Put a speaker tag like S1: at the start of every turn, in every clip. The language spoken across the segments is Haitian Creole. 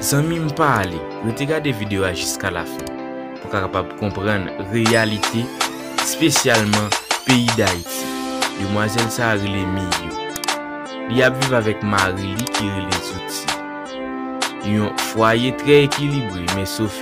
S1: Zanmi m pa ale, rete gade video a jiska la fen pou ka kapab konprann reyalite spesyalman peyi dayiti. Demwazèl sa a rele Miyu. Li ap viv avèk mari li ki rele Zuthi. Yon fwaye trè ekilibre men Sophie.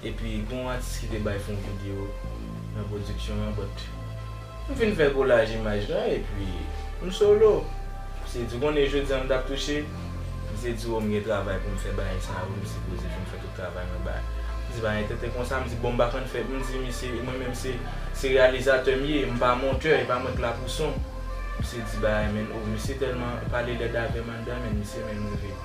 S2: Epi gen yon atis ki te bay fon video nan production an but m fin fè kolaj imaj la epi m solo. Misye di ou konnen jodi an m tap touche? Misye di oh m gen travay pou m fè bagay sa yo m sipoze fin fè tout travay mwen ba. M di pa gen tenten konsa m di bon m pa konn fè m di misye e mwen menm se se reyalizatè m ye m pa montè e pa mwen k la pou son. Misye di bagay menn oh misye tèlman pale lèd avè m anndan menn misye menm rive.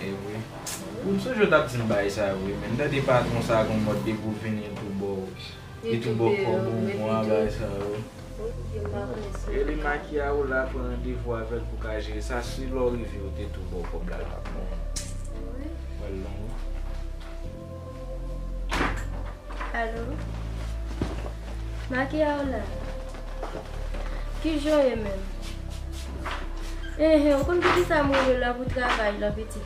S3: Ewi
S2: Ou m sonje w tap dim bagay sa yo wi men m tande patron sa gon mòd depi w vini l tou baw li tou baw kòb ou bon a bagay sa yo wi. Rele makiya ou la pran randevou avèl pou ka jere sa si lè w rive yo te tou baw kòb la l pap bon. Ou wèl long wi.
S3: Alo Maki a ou la? Kijan ou ye menm? Enhen ou konn poukisa m rele w la pou travay la pitit?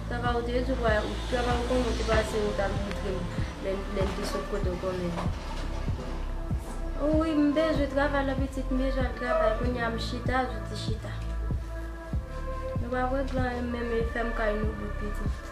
S3: Sa va ou te di w wè ou travay ou konnen ou te pase ou ta montre m lè n lè n te sot kote ou konnen an. O wi m bezwen travay la pitit m bezwen al travay kounye a m chita zouti chita. Nou pa pran gran menm e fèm kay nou bout pitit.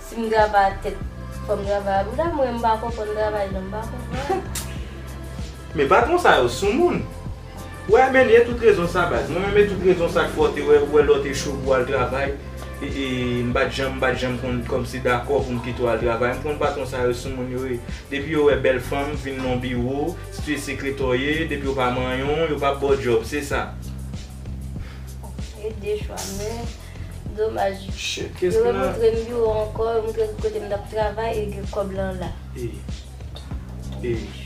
S3: Sim grava ak tèt fòm grava a bouda mwen mpa konprann travay nan mpa konprann.
S2: Men patron sa yo sou moun. Wè Amène tout rezon sa baz mwen menm e tout rezon sak fè w te wè ou wè lè w te cho pou al travay e m pat janm m pat janm konn kòmsi dakò pou m kite w al travay m konn patron sa yo sou moun yo ye depi yo wè bèl fanm vin nan w biwo si tu es secrétaire w ye depi w pa manyon yo pap ba w djòb se sa. Bon se
S3: 2 chwa men. Domaj.
S2: Shit,
S3: kes ki nan. Yo remontre
S4: m biwo an anko, yo montre m kote m tap travay e gen
S1: kob lan la. Eyy. Eyy.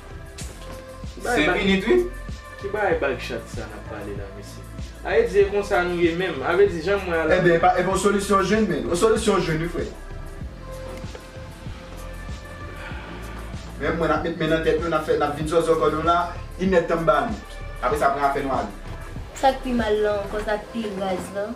S1: Se minit wi. Ki bagay bag
S2: chat sa nap pale la mesye. Ae di e konsa nou ye menm. Ave di janm wè a la. Ebyen epa yon solisyon
S4: jwenn men. Yon solisyon jwenn wi frè. Menm mwen nap met men nan tèt nou nap fè nap vin zòzò kò nou la. Inèd tan m ba nou. Apresa pran afè nou ale. Sak pi
S3: mal lan ankò sak pi raz lan.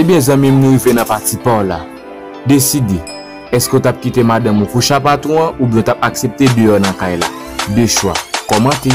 S1: Ebyen zanmim nou rive nan pati paw la. Deside, eske w tap kite madanm ou kouche a patron an oubyen w tap aksepte deyò nan kay la? 2 chwa. Kòmante.